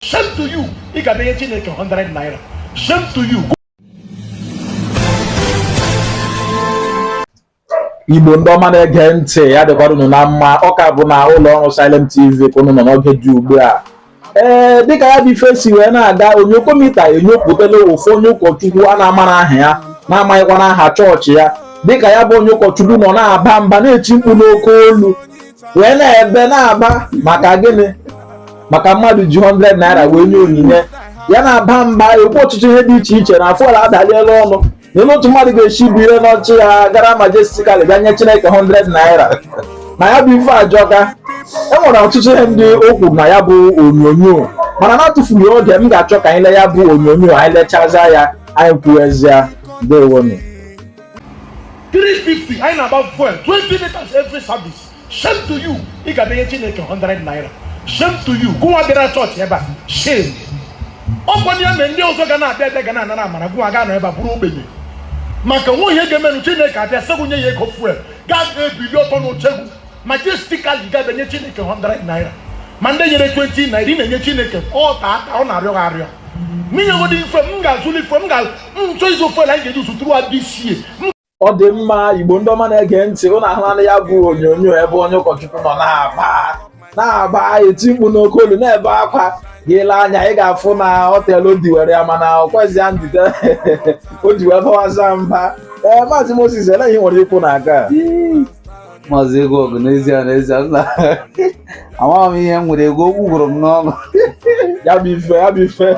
Shame to you. Ị ga-abịanye Chineke 100 naira. Shame to you. igbo ndị ọma na-ege ntị ya dịkwara unu na mma ọ ka bụ na ụlọ ọrụ Silent TV ka unu nọ n'oge dị ugbu a ee dịka ya bụ ife si wee na-aga onyokomita enyopụtala ofu onye ụkọchukwu a na-amarọ aha ya na-amaghịkwanụ aha chọọchị ya dịka ya bụ onye ụkọchukwu nọ na-aba mba na-eti mkpu n'oke olu wee na-ebe na-aba maka gịnị maka mmadụ ji 100 naira wee nye onyinye ya na-aba mba na-ekwu ọtụtụ ihe dị iche iche na fuel adaliela ọnụ na lee otu mmadụ ga-esi bilie n'oche ya gara majestically bịa nye chineke 100 naira na ya bụ ife ajọka e nwere ọtụtụ ihe ndị o kwu na ya bụ onyonyo mana na-atụfughị oge m ga-achọ ka anyị lee ya bụ onyonyo anyị lechaa ya anyị kwuwezie ndewonu 350 anyị na-agba fuel 20 liters every service shame to you ị ga na-enye chineke 100 naira shame to you gụnwa bịara chọọchị ebe a shame ọkwanụ ya mere ndị ọzọ ga na-abịa abịa ga na-anara amara gụnwa ga nọ ebe a bụrụ ogbenye maka na ọ wụ ihe ga-emenụ chineke abịa sị gụ nye ya ego fuel ga-ebili ọtọ n'oche gụ majestically gabe nye chineke 100 naira ma ndị nyere 20 naira ị na-enye chineke ọta aka ọ na-arịọ gị arịọ n'inyegodi ife m ga-azụli ife m ga-nchọ ịzụ ofe anyị ga-eji zụtụrụ diesel ọ dị mma igbo ndị ọma na-ege ntị ụnụ ahụlanụ ya bụ onyonyo ebe onye ụkọchukwu nọ na-aba mba eti mkpu n'oke olu na-ebe akwa gị lee anya ị ga-afụ na o teelụ o diwere ya mana o kwezi ya ndidi o ji wee bawaza mba ee maazị Moses elee ihe i nwere ikwu na aga maazị ego ọgụ n'ezie n'ezie nna amaghị m ihe m nwere ikwu okwu gwụrụ m n'ọnụ ya bụ ife ya bụ ife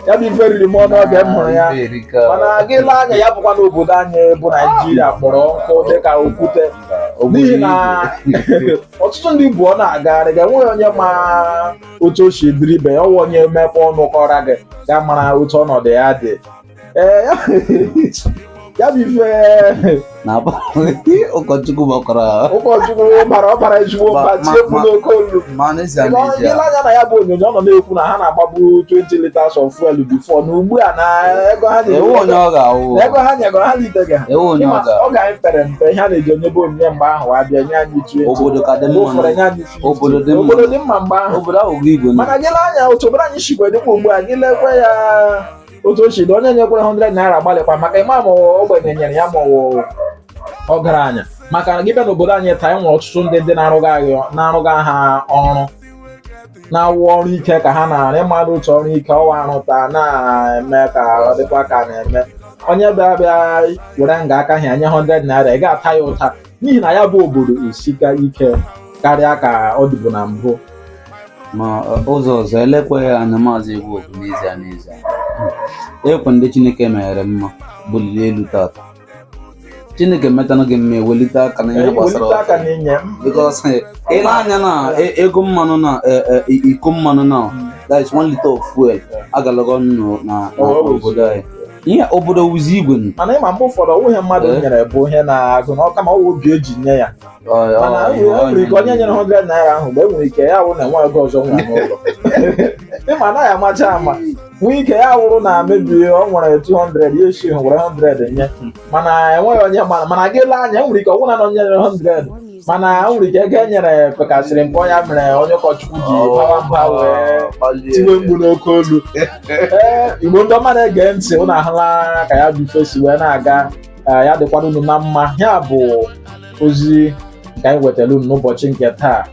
ya bụ ife riri m ọnụ oge m hụrụ ya Ife erika. mana gị lee anya ya bụkwa na obodo anyị bụ naijiria kpọrọ nkụ dịka okwute n'ihi na ọtụtụ ndị bụ ọ na-agagharị ga enweghị onye ma otu o si dịrị ibe ya ọ wụ onye mepee ọnụ kọra gị gị amara otu ọnọdụ ya dị ee ya bụ ife na ụkọchukwu gbakọrọ ụkọchukwu bara ọ bara ezigbo mba tie mkpu n'oke olu i lee anya na ya bụ onyonyo ọ nọ na-ekwu na ha na-agbabu 20 liters of fuel before na ugbu a na ego ha nyegoro ha litega ọ ga anyị pere mpe ihe a na-eji enyebu onyinye mgbe ahụ abịa lee anya otu obodo dị mma mgbe ahụ mana gị lee anya otu obodo anyị sikwa dịkwa ugbu a gị lekwa ya otu o si dị onye nyekwara 100 naira agbalịkwa maka ị ma ma ogbenye nyere ya ma ọgaranya maka na gị bịa n'obodo anyị taa enwere ọtụtụ ndị ndị na-arụga ha ọrụ na ọ wụ ọrụ ike ka ha na-arụ ị madụ otu ọrụ ike ọwa arụta na-eme ka ọ dịkwa ka na-eme onye bịa bịa were nga aka ha ya nye 100 naira ị ga-ata ya ụta n'ihi na ya bụ obodo esika ike karịa ka ọ dịbu na mbụ ma ụzọ ọzọ e lekwaa anya maazị egwu okwu n'ezie n'ezie ekwe ndị chineke meere mma buliri elu tata chineke metanụ gị mma ewelite aka na ihe gbasara welite aka ọkụ n'inye m because eh, i lee anya na e- ego mmanụ na eh, eh, i- iko mmanụ na that is one liter of fuel agalago enu na na Always. obodo anyị ihe obodo wụzi igwe mana ị ma mgbe ụfọdụ ọ wụghị ihe mmadụ eh? nyere bụ ihe a na-agụ ọnụ kama ọ wụ obi e ji nye ya mana enwere ike onye nyere 100 naira ahụ mgbe enwere ike ya wụ na o nweghị ego ọzọ o nwere n'ụlọ ị ma anaghị amacha ama nwee ike ya wụrụ na maybe o nwere 200 ya eshi were 100 nye hmm. mana enweghị onye ma mana gị lee anya enwere ike ọ wụ na onye nyere 100 mana o nwere ike ego e nyere pekasịrị mpe ọ ya mere onye ụkọchukwu ji oh, bawa mba wee tiwe mkpu n'oke olu ee igbo ndị ọma na-ege ntị unu ahụla ka ya bụ ife si wee na-aga ya dịkwara unu na mma ya bụ ozi nke anyị wetara unu n'ụbọchị nke taa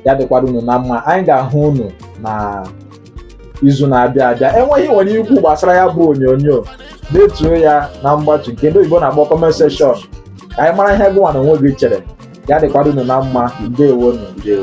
ya dịkwara unu na mma anyị ga-ahụ unu na izu na-abịa abịa i nwee ihe i nwere ikwu gbasara ya bụ onyonyo detuo ya na mgbatu nke ndị oyibo na-akpọ comment section ka anyị mara ihe gụnwa na onwe gị chere ya dịkwara unu na mma ndewonụ ndewo